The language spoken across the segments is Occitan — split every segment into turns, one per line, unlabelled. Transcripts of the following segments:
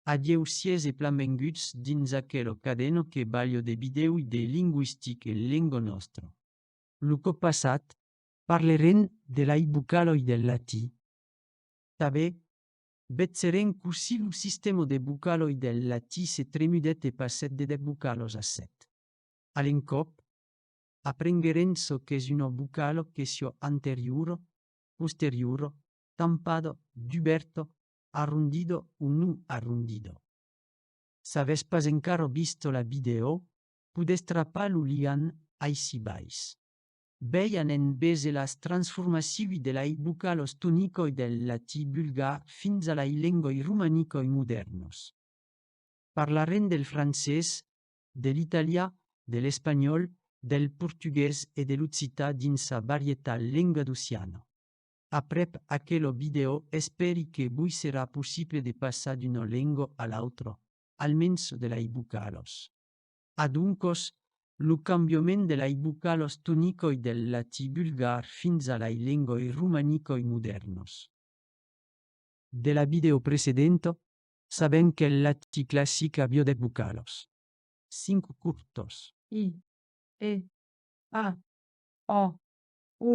Adieu sies e plan venguts dins aquelo cadeno que balho de bidèui de linguistique lengo nostro. Lo còp passat parlerem de lai bucaloi del latí. Tanbe vetzerem cossí lo sistèmo de bucaloi del latí se tremudèt e passèt de dèt bucalos a sèt. A l'encòp, aprenguerem çò qu'es uno bucalo que siò anteriuro, posteriuro, tampado, duberto, arrondido o non arrondido. S'avètz pas encara visto la vidèo, podètz trapar lo liant aicí bais. Bèi anènt veser las transformaciui de lai bucalos tonicoi del latí bulgar fins a lai lengoi romanicoi modèrnos. Parlarem del francés, de l'italià, de l'espanhòl, del portugués e de l'occità dins sa varietal lenga d'Oceana. Aprèp aquelo vidèo espèri que vos serà possible de passar d'una lenga a l'autra, almens de lei vocalos. Adoncòs, lo cambiament de lei vocalos tonicoi del latí bulgar fins a lei lengoi romanicoi modèrnos. De la vidèo precedenta, sabèm qu'el latí classic aviá dèt vocalos. Cinc curtos. I,
E, A, O, U,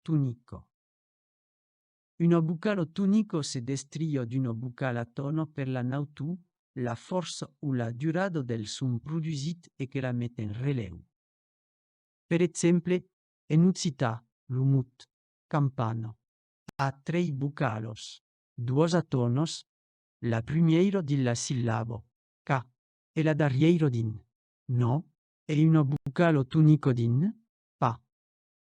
tonico. Una vocalo tonico se destrilha d'una vocala tono per la nautu, la fòrça o la durada del son produsit e que la met en relèu. Per exemple, en occitan, lo mot campana a trei vocalos, duas a tonos, la prumièira dins la sillaba ca e la darrièira dins no e una vocalo tonico dins pa.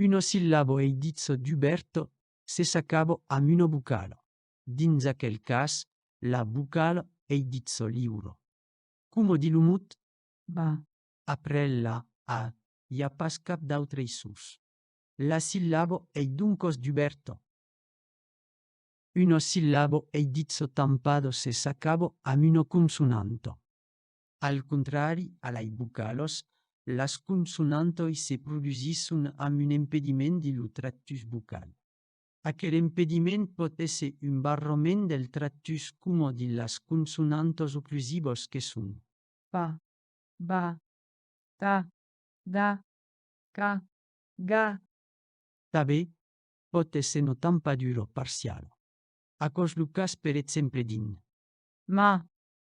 Uno sillabo ei ditz dubèrt se s'acabo amb una vocala, dins aquel cas la vocala ei ditz liura, coma di lo mot ba.
Après la
a, i a pas cap d'autrei sons. La sillabo ei doncòs dubèrta. Uno sillabo ei ditz tampado se s'acabo amb una consonanta. Al contrari, a lei bucalos, las consonantoi se produsisson amb un empediment de lo tractus bucal. Aquel empediment pòt èsser un barrament del tractus coma de las consonantos oclusivos que son. Pa,
ba, ta, da, ca, ga. Tanben,
pòt èsser no tampaduro, parcialo. Aquò es lo cas per exemple dins. Ma,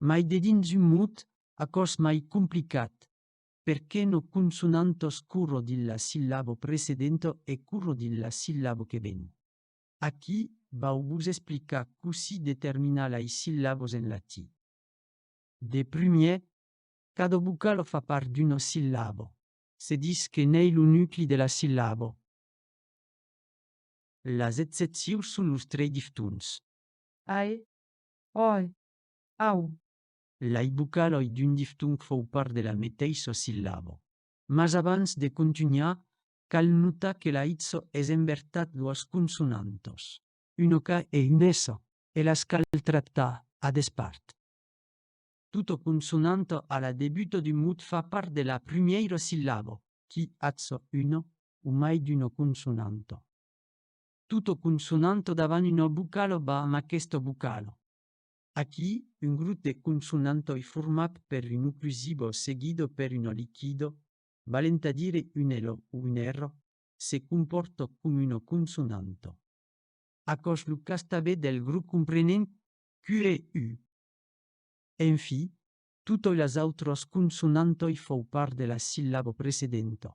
mai de dins un mot aquò's mai complicat, perqué no consonantos curro dins la sillabo precedento e curro dins la sillabo que ven. Aquí vau vos explicar cossí determinar lai sillabos en latí. De prumier, cada vocalo fa part d'uno sillabo. Se dis que n'ei lo nucli de la sillabo. Las excepcius son los trei diftons. Ae,
oe, Au! Lai
vocaloi d'un diftong fau part de la meteissa sillaba. Mas abans de contunhar, cal notar que la itso es en vertat doas consonantas, un ok e un s, e las cal tractar a despart. Tota consonanta a la debuta d'un mot fa part de la prumèira sillaba, qui atza una o mai d'una consonanta. Tota consonanta davant una vocala va amb aquesta vocala, Aquí, un grop de consonantoi format per un oclusivo seguido per un oliquido, valent a dire un elo o un ero, se compòrta com una consonanto. Aquò's lo cas tabé del grop comprenent Q e U. En fi, totoi las autras consonantoi fau part de la sillabo precedenta.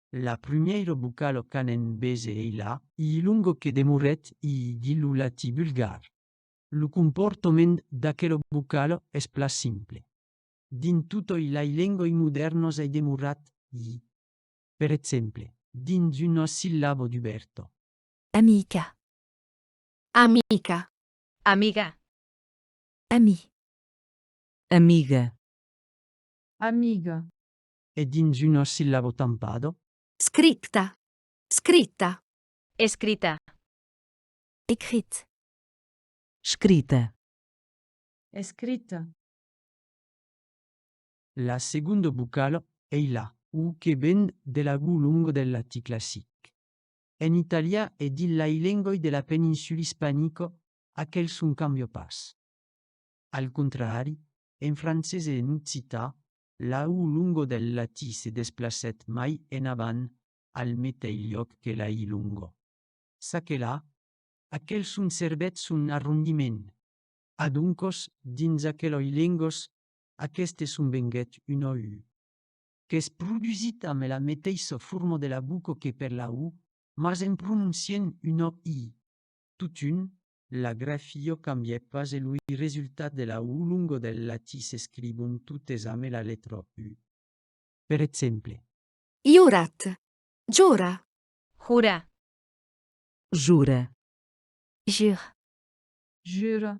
La prumieiro bucalo qu'anen bese ei la. I longo que demoret i di lo latí bulgar. Lo comportoment d'aquelo bucalo es pla simple. Dins totoi lai lengoi modèrnos ei demorat i. Per exemple, dins un assillabo duberto. Amica.
Amica. Amiga. Ami.
Amiga.
Amiga. e
dins un ossillabo tampado. Scripta,
scrita. Escrita. Ecrit.
Scrita. Escrita.
La segonda vocala ei la. O que ven de l'agú long del latí classic. En italian e dins lai lengoi de la peninsula ispanica aquel son cambia pas. Al contrari, en francés e en occità, L'aú Lungo del Latí se desplacèt mai enavant al meteis liòc que l'Aí Lungo. Çaquelà, aquel son servèt son arrondiment. Adoncòs, dins aqueloi lengos, aqueste son venguèt un oú, qu'es produsit amb la meteissa forma de la buco que per l'aú, mas en prononciant un oí. Totun, La grafio cambièt pas e lo i resultat de la u longo del latí s'escrivon totes ame la letra u. Per exemple. Iorat.
Jora. Jura.
Jura.
Jure.
Jure.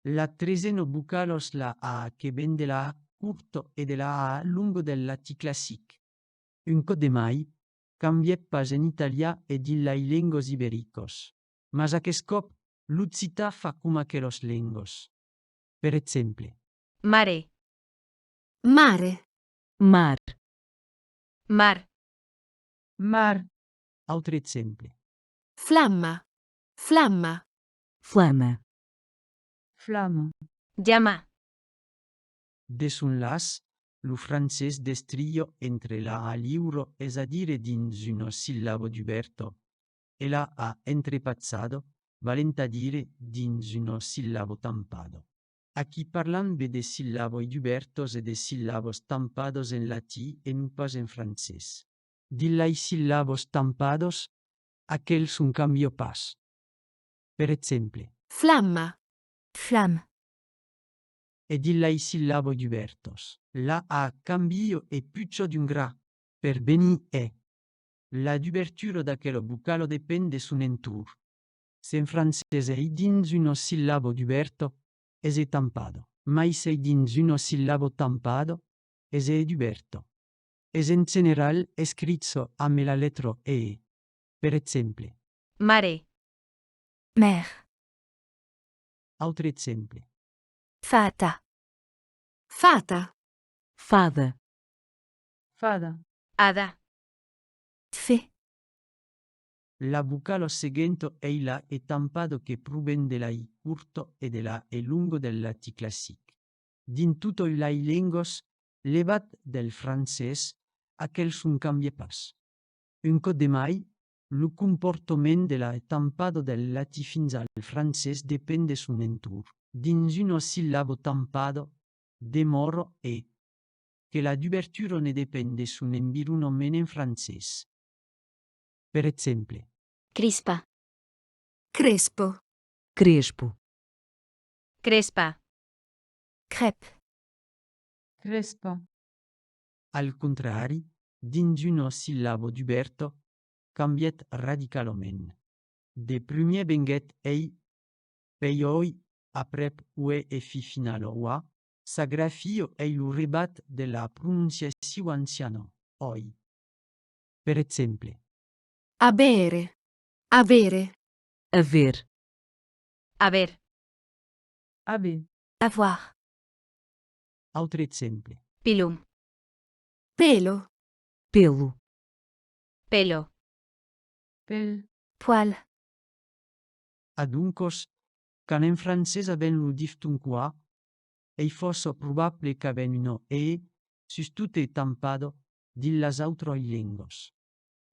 La tresen o bocal os la a que ven de la a curto e de la a longo del latí classic. Un còp de mai, cambièt pas en italià e dins lai lengos ibericos, mas aqueth còp l'occità fa coma aquelos lengos. Per exemple. Mare.
Mare. Mar.
Mar.
Mar. Autre
exemple. Flamma.
Flamma. Flama.
Flama. Llama.
De son laç, lo francés destrilho entre la a liuro es a dire dins uno sillabo duberto e la a entrepatzado valent a dire dins uno sillabo tampado. Aquí parlam be de sillaboi dubertos e de sillabos tampados en latí e non pas en francés. Dins lei sillabos tampados, aquel son cambio pas. Per exemple. Flamma,
flamme.
e dins lai sillaboi dubèrtos. La a cambio e pucho d'un gra per venir è. La dubertura d'aquelo vocalo depen de son entorn. S'en francés ei dins uno sillabo duberto, es è tampado. Mai s'ei dins uno sillabo tampado, es è duberto. Es en general escricho ambe la letro e. Per exemple. Mare.
Mère.
Autre exemple. Fata.
Fata. Fada.
Fada. Ada.
Fe.
La vocalo seguento ei la e tampado que proven de la i curto e de la e longo del latí classic. Dins totoi lai lengos, levat del francés, aquel son cambie pas. Un còp de mai, Lo comportament de la tampado del latí fins al francés depend de son entorn. Dins un ossillabo tampado, demòro e, que la dubertura ne depend de son environament en francés. Per exemple. Crispa.
Crespo. Crespo.
Crespa.
Crèp.
Crespa.
Al contrari, dins un ossillabo duberto, cambièt radicalament. De prumier venguèt ei, peiòi aprèp ue e fi final oa, sa grafio ei lo rebat de la prononciaciu anciano, oi. Per exemple. Abere,
avere. Aver.
Aver.
Aver. Avoir.
Autre exemple. Pelo.
Pelo. Pelo.
Pelo.
Pel. Poil.
Adoncos,
quand en francés avèm lo difton qua, ei fòrça probable qu'avèm un e, sustot e tampat, dins las autras lengas.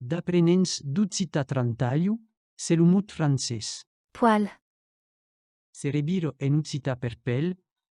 D'aprenents d'occitan trantalho, se lo mot francés. Poil. Se revira en occitan per pel,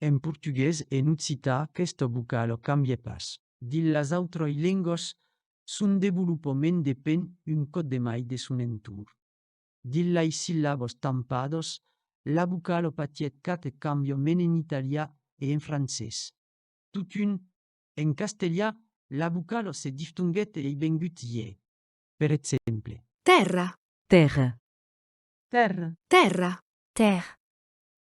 En portugués e en occità aquesta vocala cambie pas. Dins las autrai lengas, son devolopament depen un còp de mai de son entorn. Dins lai sillabas tampadas, la vocala patièt quate cambiament en italià e en francés. Totun, en castelhà, la vocala se diftonguèt e ei vengut iè. Per exemple. Tèrra.
Tèrra.
Tèrra.
Tèrra.
Tèrr.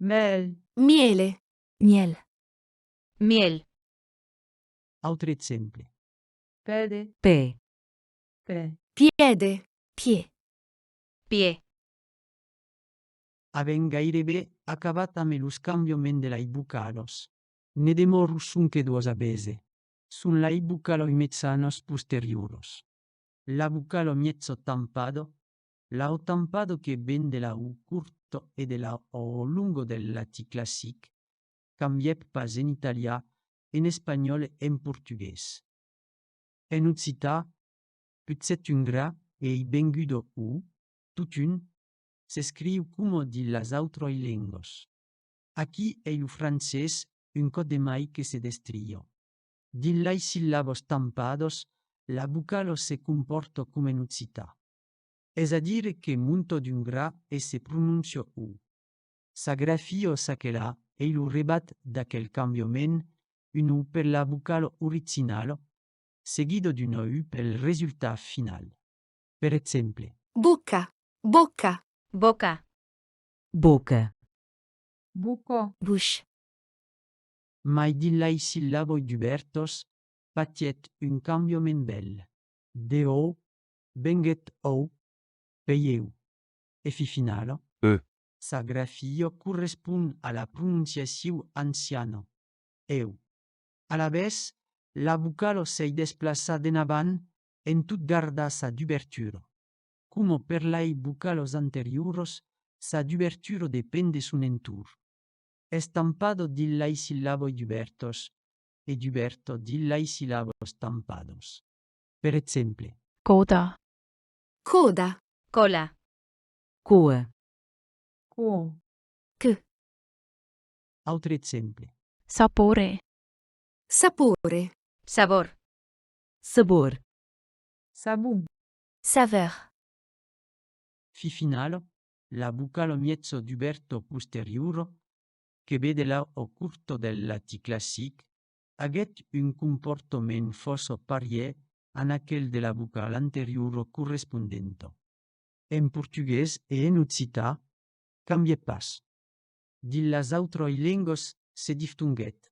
Mèl.
Mièle,
mièl.
Mièl.
Autre exemple. Pède.
Pè.
Pè.
Piède,
piè. Piè.
Avèm gairebe acabat ame los cambiaments de lai bucalos. Ne demòro sonque duos a bese. Son lai bucaloi mezzanos posterioros. La bucalo miezzo tampado. L'au tampado que ven de l'au curt e de l'au lungo del latí classic cambièp pas en italià, en espanhòl e en portugués. En occità, putzèt un gra e ei vengut o u, totun, s'escriu coma dins las autròi lengos. Aquí ei lo francés un còp de mai que se destrilhò. Dins lai sillabos tampados, la vocalo se compòrta coma en occità. Es a dire que Monto d'un gra e se prononcio u. S'agrafio çaquelà ei lo rebat d'aquel cambiament, un u per la vocalo originalo, seguido d'un o u pel resultat final. Per exemple. Boca,
boca. Boca.
Boca.
Buco. Buch.
Mai dillai sillaboi dubèrtos fatièt un cambiament bèl. De o Venguèt òu, veieu, e fi finala. E. Sa
grafia
correspon a la prononciaciu anciana, eu. Alavetz, la vocala s'ei desplaçar d'enavant en tot gardar sa dubertura. Coma per lei vocalas anterioras, sa dubertura depend de son entorn. Estampada dins lei sillaboi dubèrtas e dubèrta dins lei sillabas tampadas. per exemple. Coda.
Coda.
Cola.
Coe.
Quo. Que.
Autre exemple. Sapore.
Sapore. Sabor.
Sabor.
Sabon. Saveur.
Fi final, la vocala mièzo dubèrta posteriora que ve de la o curta del latí classic aguèt un comportament fòça parièr a aquel de la vocala anteriora correspondenta. En portugués e en occità cambièt pas. Dins las autrai lengas se diftonguèt,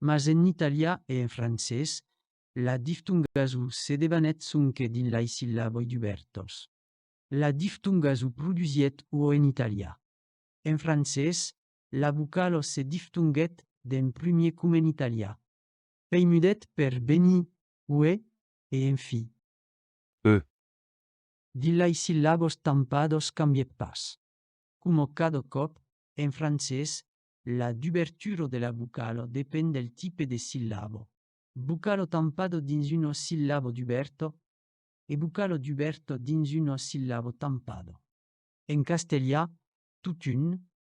mas en italià e en francés la diftongaso se debanèt sonque dins lai sillaboi dubèrtas. La diftongaso produsièt o en italià, en francés la vocal ò se diftonguèt d'en primier com en italià. Pei mudèt per benir, uè, e en fi. Ë. Dins lai sillabos tampados cambièt pas. Coma cada còp, en francés, la dubertura de la vocal ò depend del tipe de sillabo, vocal ò tampado dins un ò sillabo duberto e vocal ò duberto dins un ò sillabo tampado. En castelhà, totun,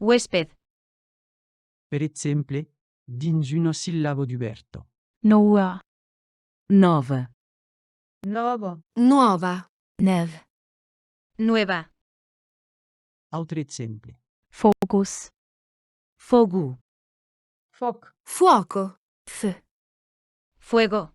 Huésped.
Per exemple, dins un ossillabo dubèrto. Noua.
Nòva.
Nòvo. Nuòva.
Nèu.
Nueva.
Autre exemple. Focus.
Fogu.
Fòc. Fuòco.
Feu.
Fuego.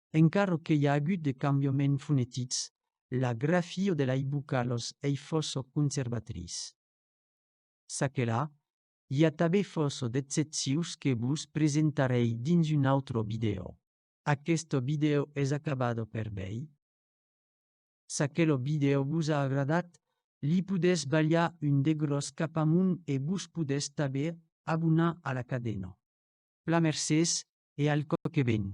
Encara que i a agut de cambiaments fonetics, la grafia de lei vocalos ei fòrça conservatriç. Ça que la, i a tabé fòrça d'excepcius que vos presentarei dins un autre vidèo. Aqueste vidèo es acabado per vei. Ça que lo vidèo vos a agradat, li podètz balhar un degròs cap amunt e vos podètz tabé abonar a la cadena. Plan mercés e al còp que ven!